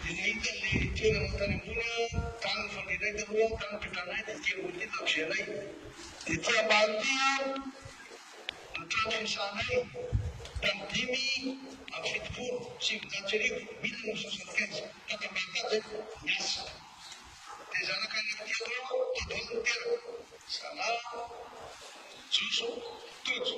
Vady, dia nahita ilay toerana tany ambony aho, tany nifandrianay taloha, tany nipetranay, dia ity ambony ity lakozia anay, dia ity ambany ity aho no trano fiasanay, tamin'ny dimy amby fitopolo sy eninjato sy arivo, mille neuf cent soixante quinze, tato ambany tato izay no niasa. Dia zanaka anaky telo aho, tao daholo ny teraka, Zala, Joso, Tojo.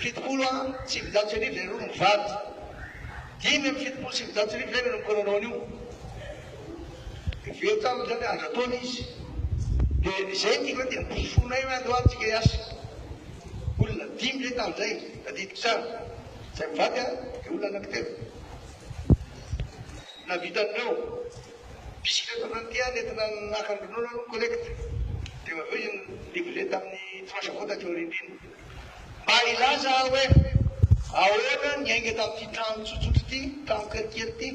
Fitopolo a sivinjato sy arivo ianareo no mivady. Dimy amby fitopolo sy sivinjato sy arivo izay no nanombokanao nanao an'io. Heveriko taminy izany hoe andran-taona izy. Dia izay ny tiako hoe dia mpiforofonay hoe andao ary tsika hiasa. Olona dimy izay tamin'izay, tadidiko tsara. Izay mivady a, dia olona anankitelo. Nahavitan'ireo. Bisikileta fandihy nentina naka ny ronono aloha ny collecte dia avy eo iny livrer tamin'ny tranche vao taty aoriana iny. Mba hilaza aho hoe ahoana ny ainga tamin'ity trano tsotsotra ity, trano kelikely ity,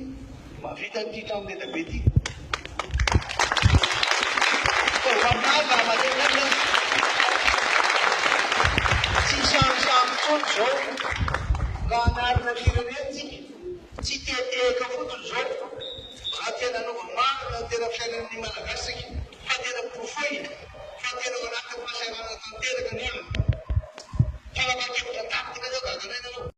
mahavita an'ity trano leda be ity. Ataovy aminazy raha mahare ny aina aza. Tsy hisarosarotra intsony izao raha hanarina firenentsika. Tsy tehatehaka fotsiny izao raha tena hanova marina ny tena fiainan'ny Malagasy isika fa tena porofoina fa tena ao anatin'ny fahasahiranana tanteraka ny olona. Fanapahan-kevitra an-taritina izao gaga an'aina anao.